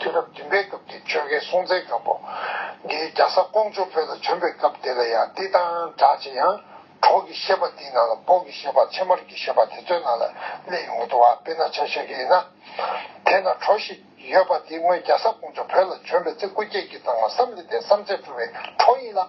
དུས་རབས་བདུན་པའི་སྐབས་ཀྱི་ཆོས་དགེ་སྲོང་བཙན་སྒམ་པོ་འདིའི་རྒྱ་ཟ་ཀོང་ཇོ་བོད་ལ་བྱོན་པའི་སྐབས་དེ་ལ་ཡང་འདི་དང་འདྲ་ཅི་ཡང་གྲོགས་ཀྱི་བཤད་པ་འདིའི་ནང་ལ་འབོག་གི་བཤད་པ་ཕྱེ་མར་གྱི་བཤད་པ་དེ་ཚོའི་ནང་ལ་གླེང་ཡོང་གི་འདུག་བ་དཔེ་ན་ཆ་ཤས་ཀྱི་ཡིན་ན། དེས་ན་གྲོགས་ཤིག་ཡོད་པ་དེ་སྔོན་རྒྱ་ཟ་ཀོང་ཇོ་བོད་ལ་བྱོན་པའི་ཚེ་སྐུ་སྐྱེས་ཀྱི་ཙང་མ་བསམ་ལེ་ཏའི་བསམ་ཚད་བཀྲུ་བའི་གྲོགས་ཡིན་ལ།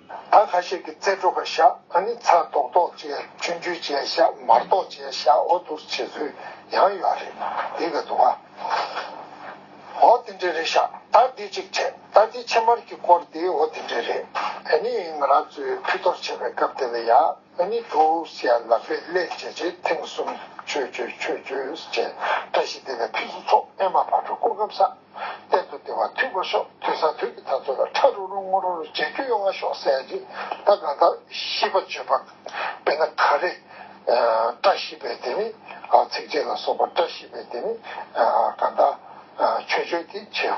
ད་ཁ་ཤས་ཀྱི་རྩེ་དྲུག་ག་ཤ་ཨ་ནི་ཚ་རྡོག་རྡོག་ཅེས་ཆུ་འཇུ་བྱས་ཤ་མར་རྡོག་བྱས་ཤ་འོ་བསྡུར་བྱེད་ཚུལ་ཡང་ཡོད་རེད་འདི་ག་འདུག་ག་འོ་དེ་འདྲ་རེད་ཤ་ད་འདི་གཅིག་བྱས་ད་འདི་ཕྱེ་མར་གྱི་སྐོར་འདི་འོ་དེ་འདྲ་རེད། ཨ་ནི་ང་རང་ཚོས་ཕུད་གཏོར་བྱེད་པའི་སྐབས་དེ་ལ་ཡ་ཨ་ནི་དུ་སེ་ལ་པས་སླད་བྱས་རྗེས་ཐེངས་གསུམ་ཆོས་བརྗོད་ཆོས་བརྗོད་བྱས་བཀྲ་ཤིས་བདེ་ལེགས་ཕུན་སུ་ཚོགས་ཨེ་མ་བག་གྲོ་སྐུར་སྐམ་ས། གཏན་དུ་བདེ་བ་འཐུལ་པོ་ཤོག་དུས་ས་དུས་ཀྱི་ད་ཚོད་ལ་ཁྲ་རུ་རུ་སྔོ་རུ་རུ་ལྗང་གུ་ཡོང་བ་ཤོག་ཟེར་ཡ་ཅིག་ད་གང་ལྟར་ཤིས་པ་བརྗོད་པ་དཔེར་ན་ག་རེ། བཀྲ་ཤིས་པའི་དེ་ནི་ཚིགས་བཅད་ལ་སོགས་པ་བཀྲ་ཤིས་པའི་དེ་ནི་གང་ལྟར་ཆོས་བརྗོད་དེ་བྱེད།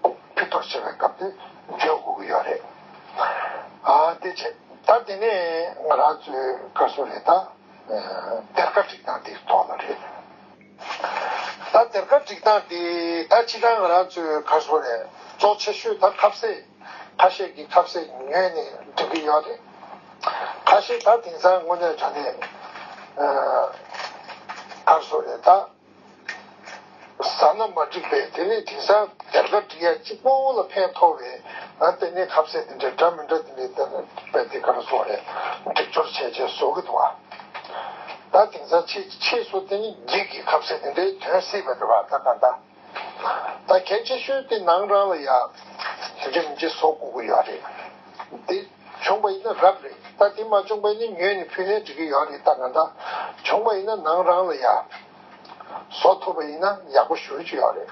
ཕུད་ཐོག་བྱེད་པའི་སྐབས་དེ་བརྗོད་དགོས་ཀྱི་ཡོད་རེད། དེ་ཆེད་ད་དེ་ནས་ང་རང་ཚོའི་ཀ་སུ་རེད་ད། གཏེར་ཁ་བསྒྲིགས་སྟངས་འདིར་དོགས་ན་རེད། ད་དེར་ག་འགྲིག་སྟངས་དེ་ད་ཕྱི་དྲང་ང་རང་ཚོའི་གར་བཟོ་རས་བཙོག་ཆེ་ཤོས་ད་ཁབ་སེ་ཁ་ཤས་ཀྱི་ཁབ་སེ་ཉོས་ནས་སྒྲིག་གི་ཡོད་རེད་ཁ་ཤས་ད་དེང་སང་དངོས་གནས་དྲང་གནས་གར་བཟོ་རས་ད་ཟ་ན་མ་འགྲིག་པས་དེ་ནས་དེང་སང་དེར་ག་འགྲིག་ཡ་གཅིག་སྤོ་བོ་ལ་ཕན་ཐོག་བས་ང་ལྟེ་གནས་ཁབ་སེ་དེ་འདྲ་འདྲ་མི་འདྲ་དེ་འདྲ་བས་དེ་གར་བཟོ་རས་སྒྲིག་སྦྱོར་བྱས་རྗེས་བཟོ་གི་འདུག་ཨ། ད་དེང་སང་ཆོས་ཀྱི་ཆས་སོགས་དེ་ནི་འགྱིག་གི་ཁབ་སེ་དེ་འདྲའི་དོན་སྲིད་པ་རེད་བ་ད་ག་འདྲ། ད་གལ་ཆེ་ཤོས་དེ་ནང་རང་ལ་ཡ། རིམ་གྱི་བཟོ་བཀོད་དགོས་ཡོད་རེད། དེ་བྱུང་བ་ཡིན་ན་རབ་རེད་ད་དེ་མ་བྱུང་བས་ནི་ཉོས་ནས་ཕུལ་ནས་འགྲིག་གི་ཡོད་རེད་ད་ག་འདྲ། བྱུང་བ་ཡིན་ན་ནང་རང་ལ་ཡ། བཟོ་ཐུབ་པ་ཡིན་ན་ཡག་པོ་ཞུ་རྒྱུ་ཡོད་རེད།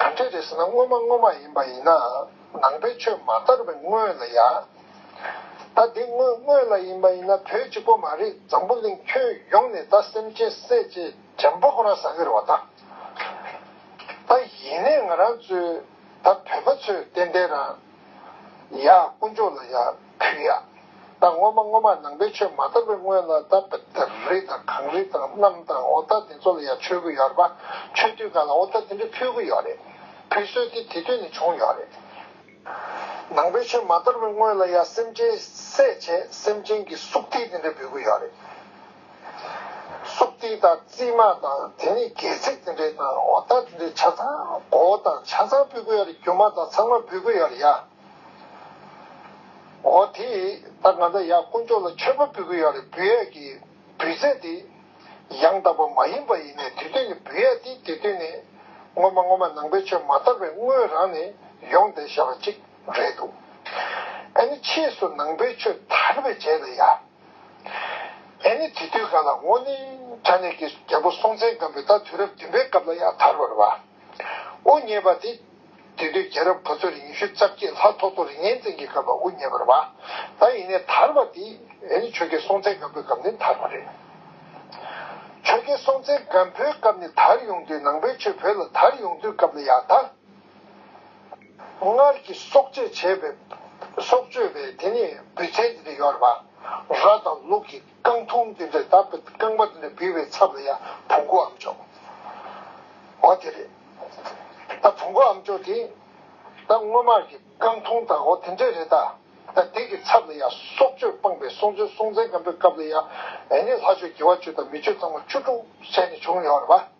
དོན་དེ་རེ་ཟུང་ན་དངོས་མ་དངོས་མ་ཡིན་པ་ཡིན་ནའང་ནང་པའི་ཆོས་མ་དར་བའི་སྔོན་ལ་ཡ། ད་དེ་སྔོན་དངོས་ལ་ཡིན་པ་ཡིན་ན་བོད་གཅིག་པོ་མ་རེད་འཛམ་བུ་གླིང་ཁྱོན་ཡོངས་ནས་ད་སེམས་ཅན་བསད་རྗེས་འཇམ་པོ་ཁོ་རང་ཟ་གི་རེད་བ་ད། ད་ཡིན་ནའི་ང་རང་ཚོའི་ད་བོད་པ་ཚོས་ཏན་ཏན་རང། ཡ་དཀོན་མཆོག་ལ་ཡ། ཕུད་ཡ། བདག་སྔོན་མ་སྔོན་མར་ནང་པའི་ཆོས་མ་དར་བའི་སྔོན་ལ་ད་རི་དང་གངས་རི་དང་གནམ་དང་ཨོ་ད་དེ་ཚོ་ལ་ཡང་ཆོས་གོས་ཡོད་རེད་པ། ཆོས་དུས་འགའ་ལ་ཨོ་ད་དེ་འདྲ་ཕུད་གི་ཡོད་རེད། ཕུད་སྲོལ་དེ་དེ་དུས་ནས་བྱུང་ཡོད་རེད། ནང་པའི་ཆོས་མ་དར་བའི་སྔོན་ལ་ཡང་སེམས་ཅན་བསད་བྱས་སེམས་ཅན་གྱི་སུག་ཏི་དེ་འདྲ་འབུལ་གི་ཡོད་རེད། སུག་ཏི་དང་རྩིས་མ་དང་དེ་ནས་སྒལ་ཚིགས་དེ་འདྲ་དང་ཨོ་ད་དེ་འདྲ་ཆ་ཚང་མགོ་བོ་དང་ཆ་ཚང་འབུལ་གི་ཡོད་རེད་རྒྱུ་མ་དང་ཚང་མ་འབུལ་གི་ཡོད་རེད་ཡ། འོ་དེ་ད་ང་ད་ཡག་དཀོན་མཆོག་ལ་མཆོད་པ་འབུལ་གི་ཡོད་རེད་འབུལ་ཡག་གི་འབུལ་ཚད་དེ་ཡང་དག་པ་མ་ཡིན་པ་ཡིན་ནའི་དུས་སྟོན་ནི་འབུལ་ཡག་དེ་དུས་སྟོན་ནི་སྔོན་མ་སྔོན་མ་ནང་པའི་ཆོས་མ་དར་བའི་སྔོན་རང་ནས་ཡོང་བསྡད་ཞེས་པ་ཅིག་རེད་འདུག་ཨེ་ནི་ཕྱིས་སུ་ནང་པའི་ཆོས་དར་བའི་རྗེས་ལ་ཡ་ཨེ་ནི་དེ་དུས་ག་ལ་འོ་ནི་ད་ནས་ཀྱི་རྒྱལ་པོ་སྲོང་བཙན་སྒམ་པོའི་ད་དུས་རབས་བདུན་པའི་སྐབས་ལ་ཡ་དར་བར་བ། དབུ་བརྙེས་པ་དེ། དེ་དུས་རྒྱལ་རབས་ཕུ་ཚུར་ཉི་ཤུ་རྩ་བརྒྱད་ལྷག་ཐོག་ཐོག་རིག་གནས་བཙན་གྱི་སྐབས་ལ་དབུ་བརྙེས་པར་བ། ད་ཡིན་ནས་དར་བ་དེ། ཡིན་ནི་ཆོལ་ཁའི་སྲོང་བཙན་སྒམ་པོའི་སྐབས་ནས་དར་བ་རེད། ཆོལ་ཁའི་སྲོང་བཙན་སྒམ་པོའི་སྐབས་ནས་དར་ཡོང་དུས་ནང་པའི་ཆོས་བོད་ལ་དར་ཡོང་དུས་སྐབས་ལ་ཡག་ད། སྔར་གྱི་སྲོག་བཅད་བྱས་པའི། སྲོག་གཅོད་པའི་དེ་ནས་འབུད་ཚན་དེ་འདྲ་ཡོད་རེད་བ། ར་དང་ལུག་གི། རྐང་འཐུང་དེ་འདྲས་བཏབ་པའི་རྐང་པ་དེ་འདྲས་བུས་པའི་ཚབ་ལ་ཡང་བུ་འགོ་འམ་ཅོག་འོ་དེ་རེད་ད་བུ་འགོ་འམ་ཅོག་དེ་ད་སྔོན་མ་གི་རྐང་འཐུང་དང་འོ་དེ་འདྲས་རེད་ད་ད་དེ་གི་ཚབ་ལ་ཡང་སྲོག་གཅོད་སྤངས་པའི་སྲོང་བཙན་སྲོང་བཙན་སྒམ་པོའི་སྐབས་ལ་ཡང་ནི་ལྷ་ཆོས་རྒྱལ་བ་ཆོས་དང་མི་ཆོས་ཚང་མ་བཅུ་དྲུག་བྱས་ནས་བྱུང་ཡོད་རེད་པ།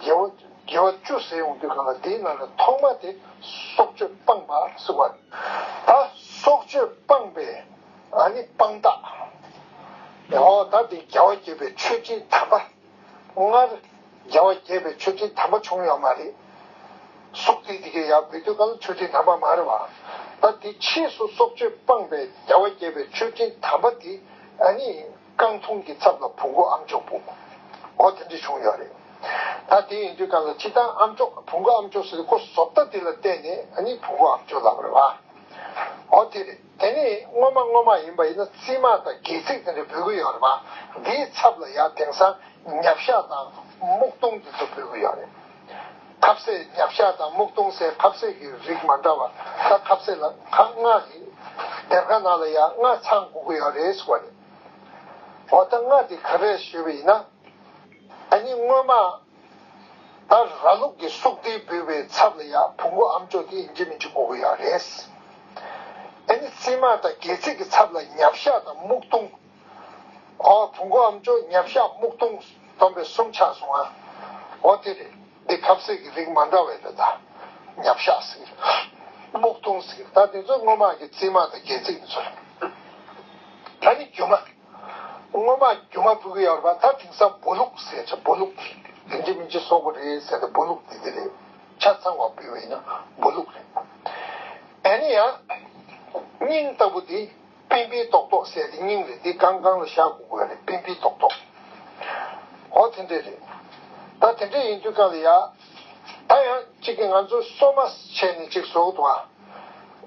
དགེ་བ་བཅུ་ཟད་འོང་དུས་གང་ལ་དེའི་ནང་གི་ཐོག་མ་དེ་སྲོག་གཅོད་སྤངས་པ་གསུངས་པ། ད་སྲོག་གཅོད་སྤངས་པས་ནི་སྤངས་རྟགས། ཧོ་ད་དེ་རྒྱལ་བ་དགྱེས་པའི་མཆོད་སྤྲིན་དམ་པ། སྔར་རྒྱལ་བ་དགྱེས་པའི་མཆོད་སྤྲིན་དམ་པ་བྱུང་ཡོད་མ་རེད། སྲོག་དེ་དེ་གའི་ཡང་བུད་དུས་གང་ལ་མཆོད་སྤྲིན་དམ་པ་མ་རེད་བ། ད་དེ་ཕྱིས་སུ་སྲོག་གཅོད་སྤངས་པས་རྒྱལ་བ་དགྱེས་པའི་མཆོད་སྤྲིན་དམ་པ་དེ་ནི། རྐང་འཐུང་གི་ཚབ་ལ་བུ་མགོ་ཨམ་ཅོག་བུ་མགོ་དེ་འདྲས་བྱུང་ཡོད་རེད། ད་དེ་ཡིན་དུས་གང་ལ་ཅི་ལྟར་ཨམ་ཅོག་བུ་མགོ་ཨམ་ཅོག་ཟེར་ཀོ་བཟོ་ལྟ་དེ་ལ་བལྟས་ནས་ནི་བུ་མགོ་ཨམ་ཅོག་ལབ་རེད་བ། འོ་དེ་རེད་དེ་ནི་སྔོན་མ་སྔོན་མ་ཡིན་པ་ཡིན་ན་རྩིས་མ་དང་སྒལ་ཚིགས་དེ་འདྲས་འབུལ་གི་ཡོད་རེད་བ། དེའི་ཚབ་ལ་ཡར་དེང་སང་ཉབ་ཤ་དང་སྨུག་སྟོང་དེ་ཚོ་འབུལ་གི་ཡོད་རེད། ཁབ་བསད་རྒྱབ་ཤ་དང་སྨུག་སྟོང་སའི་ཁབ་བསད་ཀྱི་རིགས་མ་འདྲ་བ་ལྟ་ཁབ་བསད་ལ་ཁ་སྔགས་ཡིན། སྡེར་ཁ་ནང་ལ་ཡ་ལྔ་ཚང་དགུ་དགུ་ཡང་རེད་ཟེར་བ་རེད། འོ་ད་སྔགས་དེ་ག་རེ་ཞུས་པ་ཡིན་ན། ད་ནི་སྔོན་མ། ད་ར་ལུག་གི་སུག་རྡིལ་འབུལ་བའི་ཚབ་ལ་ཡ་བུ་མགོ་ཨམ་ཅོག་དེ་ཡིན་གྱི་མིན་གྱི་དགུ་དགུ་ཡང་རེད། ཨེ་ནི་རྩིས་མ་དང་སྒལ་ཚིགས་ཀྱི་ཚབ་ལ་ཉབ་ཤ་དང་སྨུག་སྟོང། ཨོ། བུ་མགོ་འམ་ཅོ་ཉག་ཤ་སྨུག་སྟོང་སྡོམ་པའི་གསུམ་ཆགས་སོང་ཨ། འོ་དེ་རེད་འདི་ཁབ་གསེག་གི་རིགས་མ་འདྲ་བས་རེད་ད། ཉག་ཤ་ཟེར། སྨུག་སྟོང་ཟེར་ད་དེ་ཚོ་སྔོ་དམག་གི་རྩིས་དམག་དང་རྒྱལ་རྩིས་མི་ཚོ་རེད། ད་ནི་རྒྱུ་མ། སྔོ་དམག་གི་རྒྱུ་མ་ཕུད་གི་ཡོད་རེད་པ་ད་དེང་སང་སྦོ་ལུག་ཟེར་ཆ་སྦོ་ལུག་དེ་རིན་ཆེ་མི་ཆེ་སོག་པོ་རེད་ཟེར་ད་སྦོ་ལུག་དེ་དེ་རེད། ཆ་ཚང་བ་བུད་བས་ན་སྦོ་ལུག་རེད། ཨ་ནི་ཡ། སྙིང་ལྟ་བུ་དེ། པིང་པིའི་རྡོག་རྡོག་བསད་དེ་སྙིང་རེད་འདི་གང་གང་ལ་བཞག་དགོས་དགོས་རེད་པིང་པིའི་རྡོག་རྡོག། ཨོ་དེ་འདྲས་རེད། ད་དེ་འདྲས་ཡིན་དུས་གང་ལ་ཡག། ད་ཡང་གཅིག་གིས་ང་ཚོ་སོ་མ་བྱས་ནས་ཅིག་བཟོ་གི་འདུག་ཨ།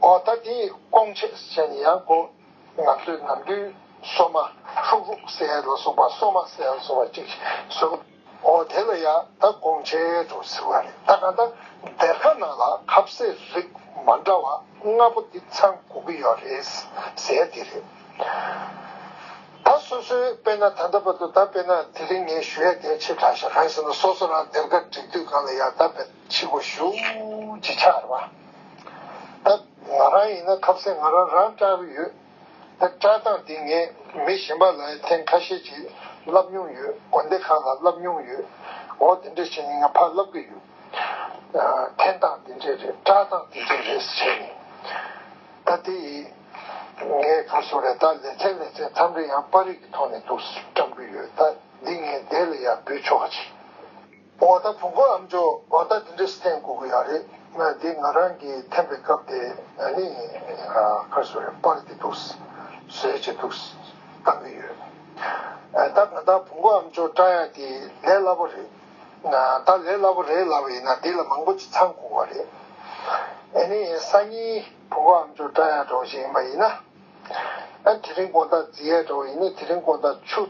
ཨོ་ད་དེ་ཡིས་སྐོང་ཆས་བྱས་ནས་ཡང་དགོས། ང་ཚོས་ནམ་རྒྱུན་སོ་མ་ཧྲུག་ཧྲུག་བསད་ལ་སོགས་པ་སོ་མ་བསད་ལ་སོགས་པ་ཅིག་བཟོ་གི་འདུག། ཨོ་དེ་ལ་ཡང་ད་དགོངས་འཆལ་དུ་ཟེར་བ་རེད་ད་ག་ད་སྡེར་ཁ་ནང་ལ་ཁབ་བསྲེས་རིགས་མ་འདྲ་བ་ལྔ་པོ་འདི་ཚང་དགོས་ཀྱི་ཡོད་རེད་ཟེར་དེ་རེད། ད་སོ་སོའི་དཔེ་ན་ད་ལྟ་བར་དུ་ད་དཔེ་ན་དེ་རིང་ངས་ཞུ་ཡ་དེ་ཆེ་དྲགས་ཤིང་གང་ཡིན་ཟེར་ན་སོ་སོ་རང་སྡེར་ཁ་བསྒྲིགས་དུས་གང་ལ་ཡང་ད་དཔེ་ཕྱི་གོ་ཞུ་ཅི་ཆགས་རེད་བ། ད་ང་རང་ཡིན་ན་ཁབ་བསྲེས་ང་རང་རང་སྐྲག་གི་ཡོད། ད་བཀྲ་བཏང་འདི་ངས་མི་གཞན་པ་ལ་ཡང་ཐེངས་ཁ་ཤས་ཀྱིས་བསླབ་མྱོང་ཡོད་དགོན་སྡེ་ཁག་ལ་བསླབ་མྱོང་ཡོད་འོ་དེ་འདྲས་བྱས་ནས་ང་ཕར་བསླབ་གི་ཡོད་ཐེངས་བཏང་འདི་འདྲས་རེད་བཀྲ་བཏང་འདི་འདྲས་རེད་བྱས་ནས་ད་དེ་ཡིས་ངའི་གར་སོང་རེད་ད་ལེ་ཚན་ལེ་ཚན་མཚམས་རེ་ཡང་པར་རིས་ཀྱི་ཐོག་ནས་འདུག་བཀྲམ་གི་ཡོད་ད་འདི་ངས་འདས་ལ་ཡང་འབུལ་ཆོག་ག་ཅིག། འོ་ད་བུ་འགོ་འམ་ཇོ་བ་ད་འདི་འདྲས་བསྟན་དགོ་གི་ཡག་རེད་ང་འདི་ང་རང་གི་འཐེན་པའི་སྐབས་དེ་ནི་ཁར་སོ་རེ་སྤར་གི་འདུག་ཟེར་གྱི་འདུག་བལྟ་གི་ཡོད་ད་ང་ད་བུ་འགོ་འམ་ཇོ་བཀྲ་ཡག་འདི་ལས་སླ་པོ་རེད་ད་ལས་སླ་པོ་རེད་ལབ་པ་ཡིན་ན་འདི་ལ་མང་པོ་ཅི་ཚང་དགོ་གི་རེད་ཨ་ནི་སང་ཉིན་བུ་འགོ་འམ་ཇོ་བཀྲ་ཡག་འགྲོ་བ་ཞིག་ཡིན་པ་ཡིན་ན་དེ་རིང་དགོང་ད་རྫི་ཡག་འགྲོ་བ་ཡིན་ནི་དེ་རིང་དགོང་ད་ཆུ།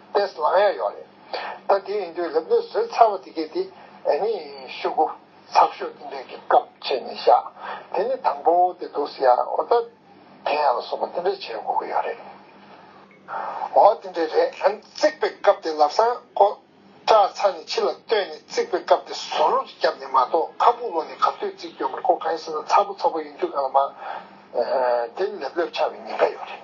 དཔེ་བླང་ཡ་ཡོད་རེད། ད་དེ་ཡིན་དུས་ལབ་ལོས་བཟོས་ཚར་བ་དེ་གས་དེ་ནི་ཤོད་གོ། ཚགས་ཤོད་འདི་འདྲས་ཀྱི་སྐབས་བྱས་ནས་བཞག་དེ་ནི་དང་པོ་དེ་འདུག་ཟེར་ཡ་འོ་ད་དེ་ཡ་ལ་སོགས་པ་འདི་འདྲས་བྱས་དགོས་ཀྱི་ཡོད་རེད། འོ་དེ་འདྲས་རེད་ཨང་བརྩེགས་པའི་སྐབས་དེ་ལབ་སང་ཀོ། སྐྲ་ཚ་ནས་ཕྱི་ལ་བཏོན་ནས་བརྩིགས་པའི་སྐབས་དེ་ཟོ་རུ་རྒྱབ་ནས་མ་གཏོགས་ཁ་སྤུ་ལོ་ནས་ག་ཚོད་བརྩིགས་ཡོད་མེད་ཀོ་གང་ཡིན་ཟེར་ན་ཚ་པོ་ཚ་པོ་ཡིན་དུས་ག་ལ་མ། དེ་ལེབ་ལེབ་ཆགས་པའི་ཉེན་ཁ་ཡོད་རེད།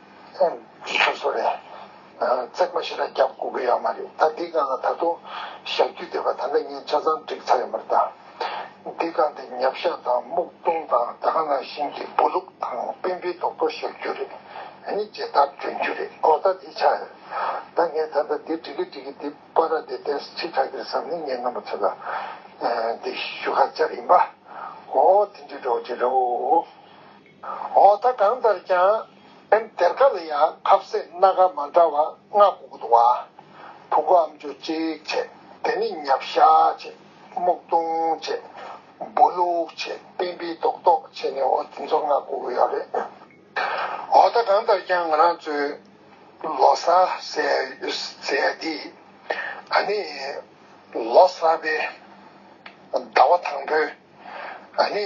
ཨེ། དེ་ཆུ་བཟོ་རེད། བརྩེགས་མ་ཞིག་ལ་རྒྱབ་སྐུག་གི་ཡོད་མ་རེད་ད་འདི་ག་ལ་ད་དུང་བཞག་རྒྱུ་བསྡད་པ་ད་ལྟ་ངས་ཆ་ཚང་བསྒྲིགས་ཚར་ཡོད་མ་རེད་ད། འདི་ག་འདི་ཉབ་ཤ་དང་སྨུག་རྡུང་དང་དག་སྣ་ཤིང་གི་སྦུ་ལུག་དང་སྤེན་པའི་རྡོག་ཐོ་བཞག་རྒྱུ་རེད། དེ་ནི་ཇི་ལྟར་གྱོན་རྒྱུ་རེད་གོ་ད་དེ་ཆགས་ཡོད། ད་ངས་ད་ལྟ་འདི་བསྒྲིག་གི་བསྒྲིག་གི་འདི་པ་ར་དེ་དེ་ཁྲི་ཁ་གིར་བསམ་ནས་ངས་རྣམ་པ་ཚོ་ལ་འདི་ཞུ་ཁ་སྦྱར་ཡིན་པ། འོ་དེ་འདྲའི་འགྲོ་བ་ཅི་རེད་འོ། འོ་ད་གང་ལྟར་ཀྱང། ཨེམ་སྡེར་ཁ་ལ་ཡང་ཁབ་བསད་སྣ་དཀར་མ་འདྲ་བ་ལྔ་དགུ་དགུ་འདུག་ཨ། བུ་གོ་ཨམ་ཅོ་ཅིག་བྱེད་དེ་ནི་མྱབ་བཤགས་བྱེད་སྨུག་རྡུང་བྱེད། སྦོ་ལུག་བྱེད་སྤེན་པའི་རྡོག་རྡོག་བྱེད་ནི་འོ་དེ་ཚོ་ལྔ་དགུ་དགུ་ཡོད་རེད། འོ་ད་གང་ལྟར་ཀྱང་ང་རང་ཚོའི་ལོ་སར་ཟེར་ཡ་འདིས། ཨ་ནི་ལོ་གསར་པའི་ཟླ་བ་དང་པོའི་ཨ་ནི།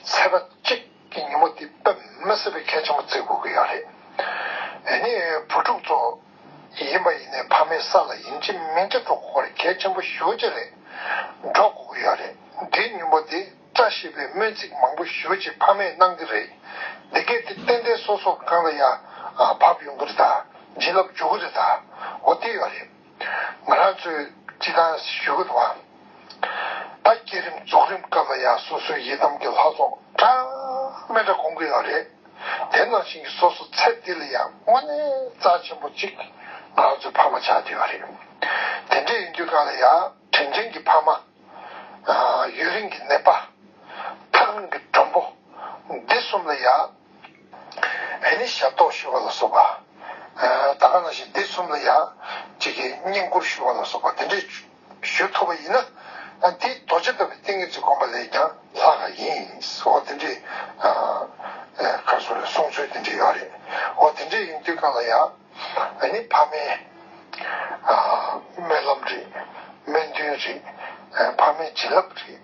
ཚེས་པ་གཅིག་གི་ཉིན་མོ་དེ་པད་མ་བསད་པའི་ཁལ་ཆེན་པོ་བརྩེགས་དགོས་ཀྱི་ཡོད་རེད། ཨ་ནི། བུ་ཕྲུག་ཚོ། ཡིན་པ་ཡིན་ནའི་ཕ་མའི་ས་ལ་ཡིན་གཅིག་མིན་གཅིག་འགྲོ་དགོས་པར་གལ་ཆེན་པོ་ཞུ་གཅིག་རེད། འགྲོ་དགོས་ཀྱི་ཡོད་རེད། འདིའི་མྱུལ་པོ་དེ་བཀྲ་ཤིས་པའི་སྨོན་ཚིག་མང་པོ་ཞུ་གཅིག་ཕ་མས་གནང་གི་རེད། འདི་གས་དེ་ཏན་ཏན་སོ་སོ་གང་ལ་ཡ། བབ་ཡོང་གི་རེད་ད། བྱིན་རླབས་འཇུག་གི་རེད་ད། འོ་དེ་ཡོད་རེད། ང་རང་ཚོས་ཅི་གང་ཞུ་གི་འདུག་ཨ། ད་བསྐྱེད་རིམ་རྫོགས་རིམ་སྐབས་ལ་ཡང་སོ་སོའི་ཡི་དམ་གྱི་ལྷ་ཚོགས་གྲངས་མེད་འདྲ་སྐོང་གི་ཡོད་རེད། དེ་ནང་བཞིན་གྱི་སོ་སོ་ཚེ་འདི་ལ་ཡང་དངོས་གནས་རྩ་ཆེན་པོ་གཅིག་ང་རང་ཚོའི་ཕ་མ་ཆགས་ཀྱི་ཡོད་རེད། དེ་འདྲས་ཡིན་དུས་གང་ལ་ཡང་དྲིན་ཅན་གྱི་ཕ་མ། ཡུན་རིང་གི་ནད་པ། ཐག་རིང་གི་མགྲོན་པོ། འདི་གསུམ་ལ་ཡང། ཨེ་ལི་ཞབས་ཏོག་ཞུ་བ་ལ་སོགས་པ། ད་ག་ན་ཞིག་འདི་གསུམ་ལ་ཡང་གཅིག་གིས་བསྙེན་བཀུར་ཞུ་བ་ལ་སོགས་པ་དེ་འདྲས་ཞུ་ཐུབ་པ་ཡིན་ན། དེ་རྡོ་རྗེ་ཐོབ་པའི་ཏིང་ངེ་འཛིན་བསྒོམ་པ་ལས་ཀྱང་ལྷག་ག་ཡིན། འོ་དེ་འདྲས། ཁར་སོ་རེད་གསུང་ཚུལ་དེ་འདྲས་ཡོད་རེད། འོ་དེ་འདྲས་ཡིན་དུས་གང་ལ་ཡང། ནི་ཕ་མའི། རྨི་ལམ་རེད། རྨི་འདུན་རེད། ཕ་མའི་བྱིན་རླབས་རེད།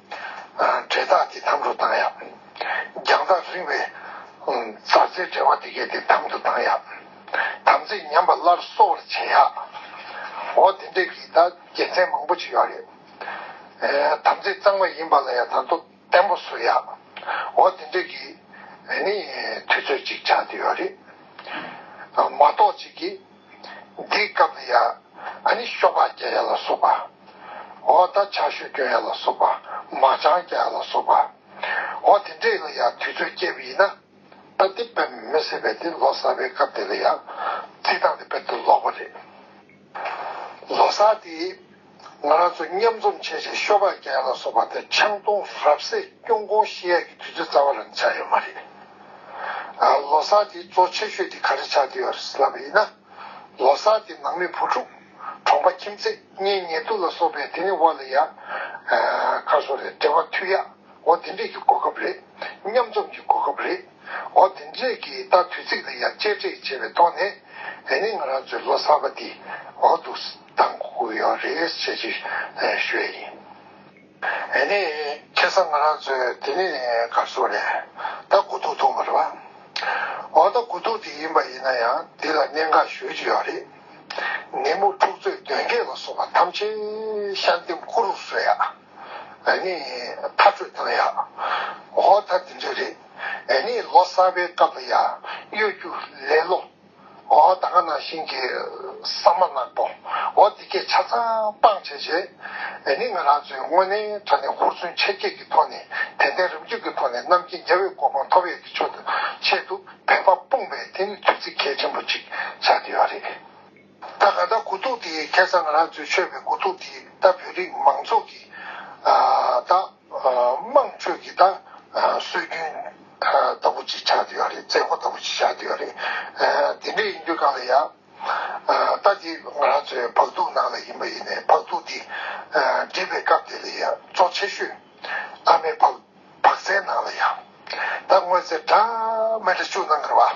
འབྲེལ་ཐག་དེ་དམ་དུ་བཏང་ཡ། རྒྱང་ཐག་རིང་བའི་མཛའ་བརྩེའི་འབྲེལ་བ་དེ་གས་དེ་དམ་དུ་བཏང་ཡ། དམ་ཚིག་ཉམས་པ་སླར་གསོ་བར་བྱེད་ཡ། འོ་དེ་འདྲའི་རིགས་དག་དགེ་མཚན་མང་པོ་ཅིག་ཡོད་རེད། དམ་ཚིག་གཙང་མ་ཡིན་པ་ལ་ཡང་དང་དུ་བརྟན་པོ་བཟོ་ཡ། འོ་དེ་འདྲའི་གིས་ནི་དུས་ཚོད་ཅིག་ཆགས་ཀྱི་ཡོད་རེད། མ་གཏོགས་ཅིག་གིས་འདིའི་སྐབས་ལ་ཡང་ཨ་ནི་གཤོག་པ་རྒྱ་ཡ་ལ་སོགས་པ། འོ་ད་ཆ་ཤོད་སྐྱོན་ཡ་ལ་སོགས་པ་མ་ཆང་རྒྱ་ཡ་ལ་སོགས་པ། འོ་དེ་འདྲས་ལ་ཡང་དུས་ཚོད་སྐྱེལ་བ་ཡིན་ན། ད་དེ་དཔེར་མི་སྲིད་པས་དེ་ལོ་གསར་པའི་སྐབས་དེ་ལ་ཡང་རྩིས་སྟངས་དེ་དཔེར་དུ་ལོག་པ་རེད། ལོ་གསར་དེ། ང་རང་ཚོ་མཉམ་འཛོམས་བྱས་རྗེས་ཤོ་ཁག་བརྒྱད་ལ་སོགས་པ་དེ་ཆང་འཐུང་རབས་གསེག་སྐྱོང་གོང་ཤི་ཡག་གི་དུས་ཚོད་རྩ་བ་རང་ཆགས་ཡོད་མ་རེད། ལོ་གསར་དེའི་གཙོ་ཆེ་ཤོས་དེ་ག་རེ་ཆགས་བསྡད་ཡོད་རེད་ཟེར་ལབ་པ་ཡིན་ན། ལོ་གསར་དེ་ནང་མི་བུ་ཕྲུག། གྲོང་པ་ཁྱིམ་མཚེས་གཉེན་ཉེ་དུ་ལ་སོགས་པའི་དེ་ནི་བ་ལ་ཡག། ཁ་སོ་རེད་འབྲེལ་བ་མཐུད་ཡག་འོ་དེ་འདྲས་ཀྱི་གོ་སྐབས་རེད། མཉམ་འཛོམས་ཀྱི་གོ་སྐབས་རེད། འོ་དེ་འདྲས་ཀྱི་ད་དུས་ཚིགས་འདི་ཡར་གཅེར་བྲེག་བྱས་པའི་ཐོག་ནས་དེ་ནས་ང་རང་ཚོའི་ལོ་གསར་པ་འདི་འོག་ཏུ་བཏང་དགོས་ཡོད་རེད་ཅེས་ཅིག་ཞུ་ཡས་ཡིན། དེ་ནས་ཁེ་སང་ང་རང་ཚོའི་དེ་ནས་སྒར་སོ་རེད་ད་དགུ་ཐུག་ཐུག་མ་རེད་བ། འོ་ད་དགུ་ཐུག་དེ་ཡིན་པ་ཡིན་ན་ཡང་འདི་ལ་གནད་འགག་ཞོལ་གྱི་ཡོད་རེད། ནད་མུག་འཁྲུག་རྩོད་གདོན་བགེགས་ལ་སོགས་པ་ཐམས་ཅད་ཤ་འདེམས་བསྐུ་རུ་གསོལ་ཡ། ཨེ་ནི་མཐར་སྤྲོད་སྟངས་ཡག། འོ་ད་དེ་འདྲ་རེད། ཨེ་ནི་ལོ་གསར་པའི་སྐབས་ལ་ཡག་གཡོ་སྒྱུ་ལེ་ལོ། འོ་ད་ག་ནང་བཞིན་གྱི་ས་མ་ནག་པོ། འོ་འདི་སྐད་ཆ་ཚང་སྤང་བྱས་བྱས། ཨེ་ནི་ང་རང་ཚོའི་དངོས་གནས་དྲ་ནས་ཧུར་བརྩོན་ཆེར་བསྐྱེད་ཀྱི་ཐོག་ནས་དད་ལྡན་རབ་འཇུག་གི་ཐོག་ནས་རྣམ་མཁྱེན་རྒྱ་བོད་གོ་འཕང་ཐོབ་ཡས་ཀྱི་ཆོད་དུ་ཆེད་དུ་བད་པ་སྤུངས་པའི་དེ་ནི་དུས་ཚིགས་གལ་ཆེན་པོ་ཅིག་ཆགས་བསྡད་ཡོད་རེད། ད་ག་ད་གུ་ཐུག་དེ་ཁེ་སང་ང་རང་ཚོའི་ཆོས་པའི་གུ་ཐུག་དེ་ད་བོད་རིགས་མང་ཚོགས་ཀྱི་ད་དམངས་ཁྲོད་ཀྱི་ད་སྲོལ་རྒྱུན་ལྟ་བུ་ཅིག་ཆགས་འདུས་ཡོད་རེད་རྩེད་མགོ་ལྟ་བུ་ཅིག་ཆགས་འདུས་ཡོད་རེད། དེ་འདྲས་ཡིན་དུས་གང་ལ་ཡ། ད་དེ་ང་རང་ཚོའི་བག་ཐུག་ནང་ལ་ཡིན་པ་ཡིན་ནའི་བག་ཐུག་དེ་འདྲིས་པའི་སྐབས་དེ་ལ་ཡ་གཙོ་ཆེ་ཤོས་ཨ་མའི་བག་ཟའི་ནང་ལ་ཡ། ད་དངོས་རྫས་གྲ་མེ་གྲ་ཆུ་ནང་གི་ར་བ།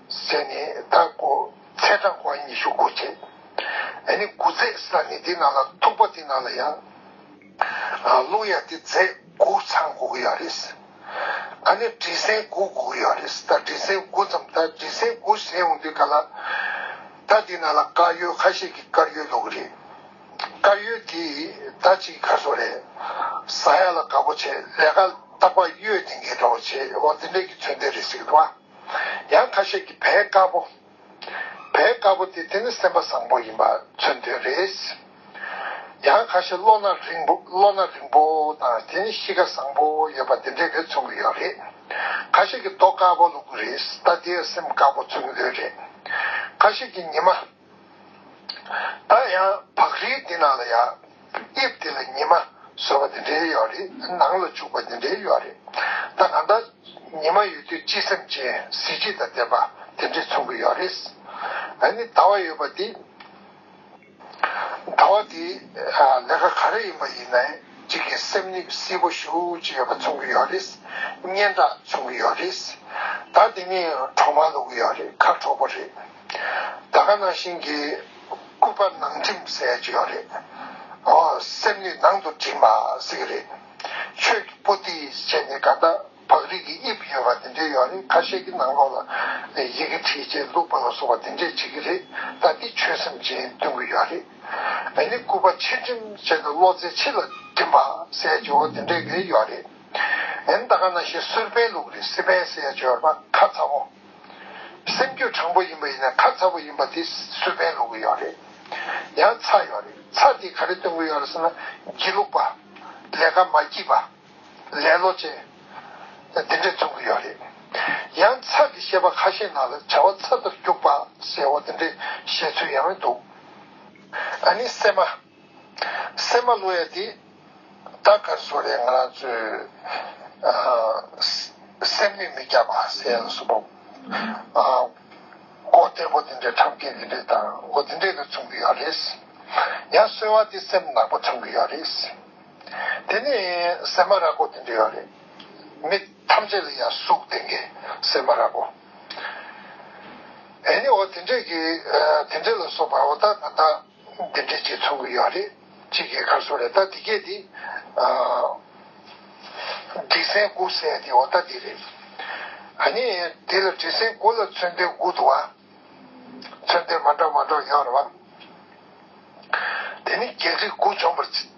ཟས་ནི་ད་དགོ་ཚེས་གྲངས་དགུ་བ་ཉི་ཤུ་དགུ་བྱེད། འདི་ནི་དགུ་རྫས་ས་ནི་དེ་རྣམས་ལ་ཐུག་པ་དེ་རྣམས་ལ་ཡང། རླུང་ཡ་དེ་རྫས་དགུ་ཚང་དགུ་གི་ཡ་རེད། ཨ་ནི་དྲི་ཟན་དགུ་དགུ་གི་ཡ་རེད་ད་དྲི་ཟན་དགུ་ཙམ་ད་དྲི་ཟན་དགུ་ཟས་འོང་དུས་ག་ལ། ད་དེ་རྣམས་ལ་དཀར་ཡོལ་ཁ་ཤས་ཀྱི་དཀར་ཡོལ་ལོག་གི་རེད། དཀར་ཡོལ་དེ་ད་ཅིག་གི་གར་སོང་རེད། ཟ་ཡ་ལ་དགའ་པོ་བྱེད་ལས་ཀ་རྟག་པ་གཡོས་ཏེ་འགས་འདྲ་བོ་བྱེད་འོ་འདི་འདྲས་ཀྱི་ཚོད་འདས་རེད་ཟེར་གི་འདུག་བ། ཡང་ཁ་ཤས་ཀྱིས་བལ་དཀར་པོ། བལ་དཀར་པོ་དེ་དེ་ནི་སེམས་པ་བཟང་པོ་ཡིན་པ་མཚོན་དོན་རེད། ཡང་ཁ་ཤས་བློ་སྣ་རིང་པོ་བློ་སྣ་རིང་པོ་དང་དེ་ནི་གཤིས་ཀ་བཟང་པོ་ཡོད་པ་དེ་འདྲས་རེད་མཚོན་གྱི་ཡོད་རེད། ཁ་ཤས་ཀྱིས་རྡོ་དཀར་པོ་ལུག་གི་རེད་ལྟ་དེའི་སེམས་དཀར་པོ་མཚོན་གྱི་ཡོད་རེད། ཁ་ཤས་ཀྱིས་ཉི་མ། ད་ཡང་བག་རིལ་འདི་ནང་ལ་ཡ། དབྱིབས་འདི་ལ་ཉི་མ་སོལ་བ་འདི་འདྲའི་ཡོད་རེད། ནང་ལ་བྱུག་པ་འདི་འདྲའི་ཡོད་རེད། ད་གང་ལྟར། ཉི་མ་ཡོད་དུས་སྤྱི་སེམས་ཅན་གཟི་བརྗིད་དང་ལྡན་པ་དེ་འདྲས་མཚུངས་ཀྱི་ཡོད་རེད། ད་ནི་ཟླ་བ་ཡོད་པ་འདི། ཟླ་བ་འདི། ལས་ཀ་ག་རེ་ཡིན་པ་ཡིན་ནའི་གཅིག་གིས་སེམས་ནི་བསིལ་པོ་ཤུགས་ཅིག་ཡོད་པ་མཚུངས་ཀྱི་ཡོད་རེད། སྙན་གྲགས་མཚུངས་ཀྱི་ཡོད་རེད། ད་འདི་ནི་གྲོག་མ་ལུག་ཡོད་རེད་ཁ་གྲོག་པོ་རེད། ད་ག་ནང་བཞིན་གྱི་སྐུད་པ་ནང་འགྲིམ་ཟེར་གྱི་ཡོད་རེད། ཨོ། སེམས་ནི་ནང་དུ་འགྲིམ་པ་ཟེར་གྱི་རེད། ཆོས་ཀྱི་པོ་ཏི་བྱས་ནས་ག་ད་བག་རིགས་ཀྱི་དབྱིབས་ཡོད་པ་དེ་འདྲས་ཡོད་རེད་ཁ་ཤས་ཀྱི་ནང་ལོགས་ལ་ཡི་གེ་བྲིས་རྗེས་བླུགས་པ་ལ་སོགས་པ་དེ་འདྲས་བྱེད་ཀྱི་རེད་ད་འདི་ཆོས་སེམས་ཅན་སྟོན་གྱི་ཡོད་རེད། མེ་ནི་སྐུད་པ་ཕྱིར་འགྲིམ་བྱས་ནས་བློ་རྩེ་ཕྱི་ལ་འགྲིམ་པ་ཟེར་གྱི་འོ་དེ་འདྲས་ཀྱི་ཡོད་རེད། ཨེན་ད་ག་ནང་བཞིན་སུར་པན་ལུག་རེད་སི་པན་ཟེར་གྱི་ཡོད་པ་ཁ་ཚ་བོ། སེམས་རྒྱུད་དྲང་པོ་ཡིན་པ་ཡིན་ན་ཁ་ཚ་པོ་ཡིན་པ་དེ་སུས་ཕན་ལོག་གི་ཡོད་རེད། ཡང་ཚ་ཡོད་རེད་ཚ་དེ་ག་རེ་སྟོན་གི་ཡོད་རེད་ཟེར་ན། སྒྱིད་ལུག་པ། ལས་ཀ་མ་སྐྱིད་པ། ལེ་ལོ་ཅན། འདི་འདྲས་རྩོམ་གི་ཡོད་རེད། ཡང་ཚ་གི་བཤད་པ་ཁ་ཤས་ནང་ལ་བྱ་བ་ཚ་ལྟར་རྒྱུགས་པ་ཟེར་བ་དེ་འདྲས་བཤད་ཚུལ་ཡང་འདུག་ཨ་ནི་སེམས་མ། སེམས་མ་ལྷོད་ཡ་དེ། རྟགས་གར་བཟོ་རེད་ང་རང་ཚོའི། སེམས་མི་མི་སྐྱ་བ་ཟེར་ཡ་སོ་བོ། སྒོ་གཏེར་པོ་དེ་འདྲས་ཁྲམ་སྐད་དེ་འདྲས་དང་སྒོ་དེ་འདྲས་གི་ཚུམ་གི་ཡོད་རེད། ཡ་གསོལ་བ་དེ་སེམས་ནག་པོ་ཁྲམ་གི་ཡོད་རེད། དེ་ནས་སེམས་མ་ར་གོ་དེ་འདྲས་ཡོད་རེད། མི་ཐམས་ཅད་ལ་ཡ་སུག་དེ་འགའི་སེམས་མ་ར་གོ། ཨེ་ནི་འོ་དེ་འདྲས་གི་དེ་འདྲས་ལ་སོ་བ་འོ་ད་ད་ད། འདི་འདྲའི་རྗེས་ཚོང་གི་ཡོད་རེད། གཅིག་གིས་ཁར་སོང་རེད་ད་འདི་སྐད་དེ། འབྲི་སྲན་དགུ་བསད་དེ་འོ་ད་འདི་རེད། ཨ་ནི། དེ་ལ་འབྲི་སྲན་དགུ་ལ་མཚོན་དོན་དགུ་འདུག་ཨ། མཚོན་དོན་མ་འདྲ་མ་འདྲ་ཡོད་རེད་བ། དེ་ནི་རྒྱལ་རིགས་དགུ་འཇོམས་པར།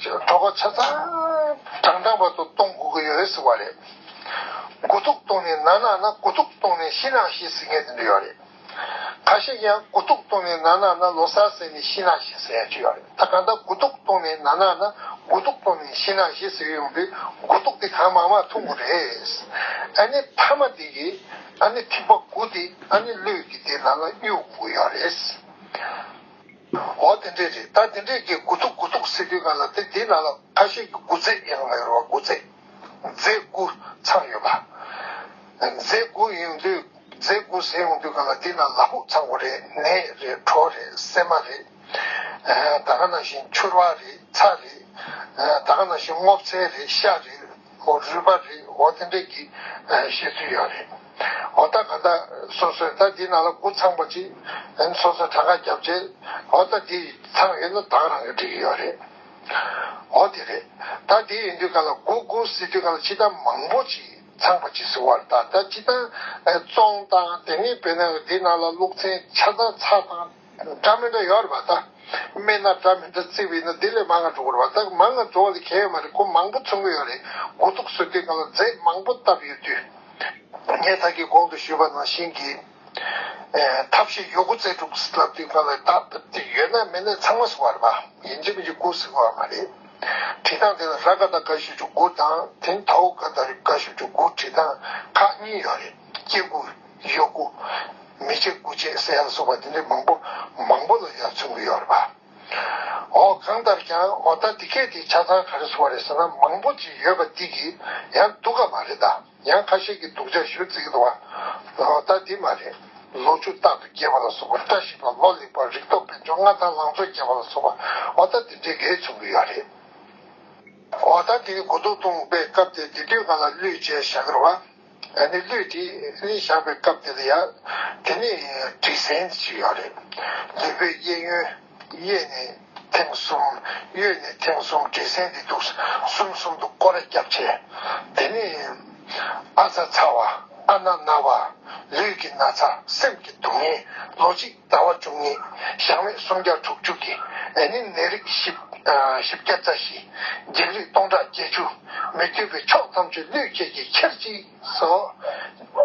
གྲོགས་པོ་ཆ་ཚང་གྲངས་གྲངས་པ་ཚོ་གཏོང་དགོས་ཀྱི་ཡོད་རེད་ཟེར་བ་རེད། དགུ་ཐུག་གཏོང་ནས་ནག་ནག་ན་དགུ་ཐུག་གཏོང་ནས་ཤི་ནག་ཤི་ཟེར་མཁན་དེ་འདྲ་ཡོད་རེད། ཁ་ཤས་ཀྱང་དགུ་ཐུག་གཏོང་ནས་ནག་ནག་ན་ལོ་སར་ཟེར་ནས་ཤི་ནག་ཤི་ཟེར་ཡ་ཅིག་ཡོད་རེད་ད་གང་ལྟར་དགུ་ཐུག་གཏོང་ནས་ནག་ནག་ན་དགུ་ཐུག་གཏོང་ནས་ཤི་ནག་ཤི་ཟེར་ཡོང་དུས་དགུ་ཐུག་དེ་གང་མང་མང་ཐུག་དགོས་རེད། ཨ་ནི་མཐའ་མ་དེ་གི་ཨ་ནི་ཐིག་པ་དགུ་དེ་ཨ་ནི་གློད་ཀྱི་དེ་ནང་ལ་གཡུག་དགོས་ཀྱི་ཡོད་རེད། འོ་དེ་འདྲས་རེད་ད་དེ་འདྲས་ཀྱི་དགུ་ཐུག་དགུ་ཐུག་ཟེར་དུས་ག་ལ་དེ་དེའི་ནང་ལ་ཁ་ཤས་ཀྱི་དགུ་རྫས་ཡང་ཡོད་རེད་བ་དགུ་རྫས། རྫས་དགུ་ཚང་ཡོད་པ། རྫས་དགུ་ཡོང་དུས་རྫས་དགུ་ཟེར་ཡོང་དུས་ག་ལ་དེའི་ནང་ལ་ཧུག་ཚང་བོ་རེད་ནས་རེད་གྲོ་རེད་སྲན་མ་རེད། ད་ག་ནང་བཞིན་ཕྱུར་བ་རེད་ཚྭ་རེད། ད་ག་ནང་བཞིན་སྔོ་བཙལ་རེད་ཤ་རེད། ཨོ་བཟོས་པ་རེད་འོ་དེ་འདྲས་ཀྱི་བཤད་ཚུལ་ཡོད་རེད་འོ་ལྟ་ག་ལྟ་སོ་སོས་ལྟ་དེ་ན་ལ་སྐུ་ཚང་པོ་ཅིག་ཡིན་སོ་སོས་གྲངས་ཀ་རྒྱབ་ཆད་འོ་ལྟ་དེ་ཚང་ཡོད་ན་དག་རང་གི་འགྲིག་གི་ཡོད་རེད་འོ་དེ་རེད་ལྟ་དེ་ཡིན་དུས་ག་ལ་སྒོ་སྒུར་སྲིད་དུས་ག་ལ་ཕྱི་ཐང་མང་པོ་ཅིག་ཚང་པོ་ཅིག་ཟེར་བ་རེད་ད་ལྟ་ཕྱི་ཐང་བཙོང་སྟངས་དེ་ནི་བོད་ནང་གི་དེ་ན་ལ་ལུགས་ཚན་ཆ་ཚང་ཚགས་དང། སྒྲ་མི་འདྲ་ཡོད་རེད་པ་ད། སྨན་སྣ་སྒྲ་མི་འདྲ་བརྩི་བས་ན་དེ་ལས་མང་ང་འགྲོ་དགོས་རེད་པ་ད་མང་ང་འགྲོ་བ་ལས་གལ་ཡོད་མ་རེད་གོ་མང་པོ་མཚོན་གི་ཡོད་རེད་དགུ་གཏུགས་བཟོས་དུས་ང་ལ་རྫས་མང་པོ་བཏབ་ཡོད་དུས། ངས་ད་ཀྱི་གོང་དུ་ཞུས་པ་ནང་བཞིན་གྱི། ཐབས་ཤེས་ཡོད་དགུ་རྩལ་སྤྲུགས་སུ་བསླབ་དུས་ང་ལ་བདག་བཏབ་དུས་ཡོད་ན་མེད་ན་ཚང་མ་བཟོ་བ་རེད་པ་ཡིན་གཅིག་མིན་གཅིག་དགུ་བཟོས་གི་ཡོད་མ་རེད། བྲིས་སྟངས་དེ་ལ་ར་ཀ་ད་ཀ་ཞུ་བཅུ་དགུ་དང་དེ་ནི་ད་ཨུ་ཀ་ད་རི་ཀ་ཞུ་བཅུ་དགུ་བྲིས་སྟངས་ཁག་གཉིས་ཡོད་རེད་སྐྱེ་དགུ། གཡོ་སྒུ། མི་བྱེད་དགུ་བྱེད་ཟེར་ཡང་སོགས་པ་འདི་འདྲའི་མང་པོ་མང་པོ་ལ་ཡང་མཚུངས་ཀྱི་ཡོད་རེད་པ། འོ་གང་ལྟར་ཀྱང་འོ་ད་འདི་སྐད་དེ་ཆ་ཚང་ག་རེ་བཟོ་བ་རེད་ཟེར་ན་མང་པོ་ཅིག་ཡོད་པ་འདི་གི་ཡང་སྡུག་ག་མ་རེད་ད་ཡང་ཁ་ཤས་ཀྱི་སྡུག་ཆ་ཞུ་རྩིས་ཀྱི་འདུག་བ། འོ་ད་འདི་མ་རེད། ལོ་ཆུ་རྟག་ཏུ་རྒྱས་པ་ལ་སོགས་པ་བཀྲ་ཤིས་པ་ལོ་ལེགས་པ་རིག་སྟོབས་དཔལ་འབྱོར་མངའ་ཐང་ལང་ཚོ་རྒྱས་པ་ལ་སོགས་པ་འོ་ད་འདི་འདྲའི་གེ་མཚུངས་ཀྱི་ཡོད་རེད། འོ་ད་འདི་གུ་དོག་སྟོང་པའི་སྐབས་དེ་འདི་དུས་ག་ལ་བསླུས་བྱས་བཞག་གི་རེད་བ། ཨ་ནི་ལུས་དེ་ནི་བཞག་པའི་སྐབས་དེ་ལ་ཡ། དེ་ནི་དྲི་ཟན་དེ་ཅིག་ཡོད་རེད། ལུས་པོའི་གཡས་གཡོན། གཡས་ནི་ཐེངས་གསུམ། གཡོན་ནི་ཐེངས་གསུམ་དྲི་ཟན་དེ་འདུག་གསུམ་གསུམ་དུ་བསྐོར་རེ་རྒྱབ་བྱས། དེ་ནི། ཨ་ཚ་ཚ་བ། ཨ་ན་ན་བ། ལུས་ཀྱི་ན་ཚ་སེམས་ཀྱི་སྡུག་བསྔལ། ལོ་གཅིག། རྩ་བ་བཅུ་གཉིས། ཞང་བས་སུམ་བརྒྱ་དྲུག་ཅུ་གྱི། ནས་ནི་ནད་རིགས་བཞི། བཞི་བརྒྱ་རྩ་བཞི། འཇིགས་རིགས་སྟོང་ཕྲག་བརྒྱད་ཅུ། མི་བསྐྱོད་པའི་ཕྱོགས་མཚམས་ཆུ་རླུད་བཅས་ཀྱིས་ཁྱེར་ཅིག། སོ།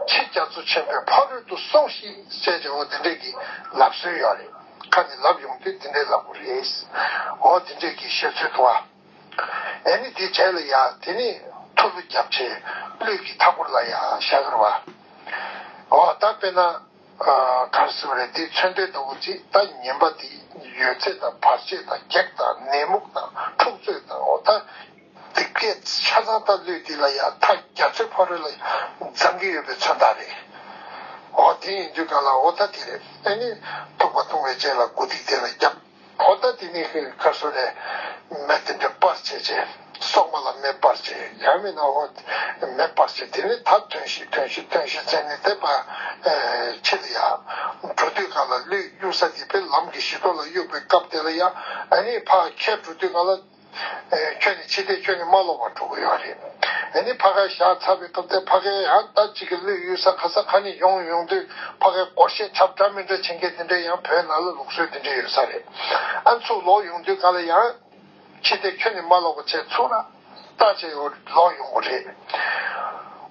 ཕྱི་རྒྱ་མཚོ་ཆེན་པོའི་ཕ་རོལ་ཏུ་སོང་ཤིག་ཅེས་བྱ་བ་འདི་འདྲས་ཀྱི་ལབ་སྲོལ་ཡོད་རེད། ཁ་ནས་ལབ་ཡོང་དུས་འདི་འདྲས་ལབ་དགོས་རེད། འོ་འདི་འདྲས་ཀྱི་བཤད་ཚུལ་དུ། ནས་ནི་དེ་བྱས་ལ་ཡ། དེ་ནི་ཐུ་ལུ་རྒྱབ་ཆེ། རླུད་གི་མཐའ་བསྐོར་ལ་ཡ་ཞག་ར་བ། འོ་ད་དཔེར་ན། གར་གསུམ་རེ་ལྡེ་ཚོན་ལྡན་ལྟ་བུ་གཅིག་ད་ཉན་པ་འདི་ཡོད་ཚད་དང་བར་ཆད་དང་གེགས་དང་ནད་མུག་དང་འཁྲུག་རྩོད་དང་འོ་ད་འདི་སྐད་ཆ་ཚང་ད་ལུས་འདི་ལ་ཡང་ཐ་རྒྱ་མཚོའི་ཕ་རོལ་ལ་འཛམ་གི་ཡོད་པའི་མཚོན་རྟགས་རེད་འོ་དེ་ཡིན་དུས་གང་ལ་འོ་ད་དེ་རེད་ཨེ་ནི་རྟོག་པ་ལྟུང་བའི་རྗེས་ལ་དགུ་སྡིག་དེ་ལ་རྒྱབ། ཧོ་ད་དེ་ནི་ཧི་ཁ་སུ་རའི་མེ་དེ་འདྲེ་པར་བྱེད་ཅེ། སོག་མ་ལ་མེ་པར་བྱེད་ཡང་མེད་ན་ཧོ། མེ་པར་བྱེད་དེ་ནི་ད་ཐོན་ཤིག་ཐོན་ཤིག་ཐོན་ཤིག་ཚེ་ནི་དེ་པར་ཕྱིར་ཡ། འགྲོ་དུས་ག་ལ་ལུས་གཡུག་ས་དེ་པའི་ལམ་གྱི་བཞི་མདོ་ལ་གཡུག་པའི་སྐབས་དེ་ལ་ཡ། ཨ་ནི་ཕ་ཁྱེད་འགྲོ་དུས་ག་ལ། ཁྱོད་ནི་འཆི་ལྟས་ཁྱོད་ནི་མ་ལོག་པར་འགྲོ་གི་ཡོད་རེད། ངས་ནི་ཕ་ཁའི་ཞག་ཚ་བའི་སྐབས་དེར་ཕ་ཁའི་ཡང་རྟ་གཅིག་གི་གླུད་གཡུལ་ས་ཁ་ས་ཁ་ནས་ཡོང་ཡོང་དུས་ཕ་ཁའི་སྐོར་བཤད་ཁྱབ་འདྲ་མི་འདྲ་བྱེད་མཁན་དེ་འདྲའི་ཡང་བོད་ནང་ལ་ལུགས་སྲོལ་དེ་འདྲའི་ཡོད་ས་རེད། ཨ་ཚུགས་ལོག་ཡོང་དུས་ག་ལ་ཡང། འཆི་ལྟས་ཁྱོད་ནི་མ་ལོག་པར་བྱས་ཚུགས་ན། རྟ་གཅིག་ལོག་ཡོང་གི་རེད།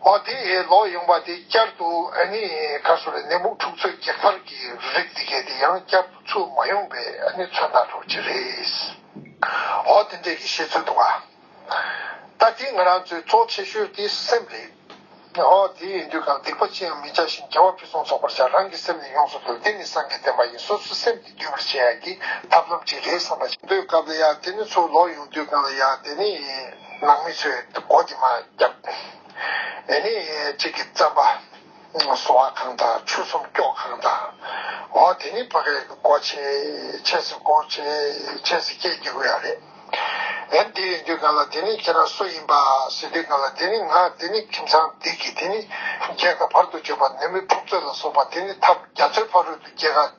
འོ་དེ་ལོག་ཡོང་པ་དེ་བསྐྱར་དུ་ཨ་ནི་ག་སོ་རེད་ནད་འབུ་འཁྲུག་རྩོད་བགེགས་ཕར་གྱི་རིགས་དེ་གས་དེ་ཡང་བསྐྱར་དུ་ཚུགས་མ་ཡོང་པའི་ཨ་ནི་མཚོན་རྟགས་སྒྲོག་ཅི་རེད། འོ་དེ་འདྲས་ཀྱི་བཤད་ཚུལ་འདུག་ཨ། ད་དེ་ང་རང་ཚོའི་གཙོ་ཆེ་ཤོས་དེ་སེམས་རེད། འོ་དེ་ཡིན་དུས་ཀྱང་སྡིག་པ་ཅི་ཡང་མི་བྱ་ཞིང་རྒྱལ་བ་ཕུན་སུམ་ཚོགས་པར་བྱ་རང་གི་སེམས་ནི་ཡོངས་སུ་བསྡུ་དེ་ནི་སངས་རྒྱས་བསྟན་པ་ཡིན་སོ་སོའི་སེམས་ཀྱིས་བསྡུས་པར་བྱེད་ཡ་གི་ཐབས་ལམ་ཅིག་རེད་བསམ་པ། པོའི་སྐབས་ལ་ཡ་དེ་ནི་ཚུར་ལོག་ཡོང་དུས་གང་ལ་ཡ་དེ་ནི་ནང་མི་ཚོས་མགོ་དེ་མ་བརྒྱབ། དེ་ནི་ཅིག་གིས་བརྩམས་པ། སོ་བ་ཁང་དང་ཆུ་སྲུང་སྐྱོག་ཁང་དང། འོ་དེ་ནི་བག་ལེབ་སྐོར་ཆེད་ཆས་སུ་སྐོར་ཆེད་ཆས་སུ་སྐྱེལ་རྒྱུ་ཡོད་རེད། ཡང་འདི་ཡོད་དུས་ག་ལ་དེ་ནི་ཁྱེད་རང་སུ་ཡིན་པ་ཟེར་དུས་ག་ལ་དེ་ནི་ང་དེ་ནི་ཁྱིམ་ཚང་འདི་གི་དེ་ནི་རྒྱལ་ཁ་བར་དུ་བརྗོད་པ་ནུ་མོའི་ཕུག་ཚོད་ལ་སོགས་པ་དེ་ནི་ཐབས་རྒྱ་མཚོའི་ཕ་རོལ་དུ་རྒྱལ་ཁ།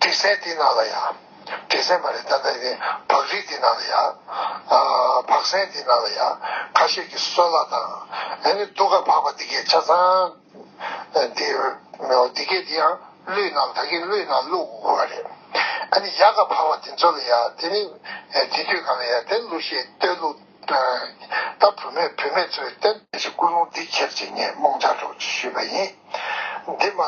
དྲི་ཟའི་དེ་ནང་ལ་ཡང། དྲི་ཟའི་མ་རེད་ད་ལྟ་ནི་བག་རིགས་དེ་ནང་ལ་ཡང། བག་ཟན་དེ་ནང་ལ་ཡང་ཁ་ཤས་ཀྱི་སོལ་གླ་དང། ཨ་ནི་རྡོ་ཁ་བག་པ་འདི་གའི་ཆ་ཚང། འདི་གའི་དེ་ཡང་གླུད་ནང་ད་གིན་གླུད་ནང་གླུ་དགུ་བ་རེད། ཨ་ནི་ཡག་ཁ་བག་པ་དེ་ཚོ་ལ་ཡང་དེ་ནི་དེ་དུས་གང་ལ་ཡང་དེ་གླུ་ཤེས་ལྟོས་གླུ། ད་བུད་མེད་བུད་མེད་ཚོའི་སྟེང། ཅི་ཀུན་སློང་འདི་ཁྱེར་ཅིག་ངས་རྨོངས་འཆར་གྲོགས་ཅིག་ཞུས་པ་ཡིན། འདི་མ།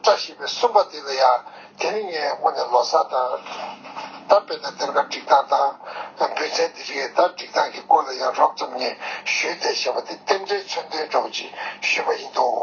བཀྲ་ཤིས་པའི་གསུམ་པ་འདི་ལ་ཡང། དེ་ནི་ངས་སྔོན་ནས་ལོ་སར་དང། ད་དཔེར་ན་གཏེར་ཁ་སྒྲིག་སྟངས་དང། འབུལ་ཚན་འདི་རིགས་ད་སྒྲིག་སྟངས་ཀྱི་སྐོར་ལ་ཡང་རོབ་ཙམ་ངས་ཞུས་ཏེ་བཤད་པ་འདི་རྟེན་འབྲེལ་མཚོན་དོན་གྲོགས་ཅིག་ཞུས་པ་ཡིན་འདུག།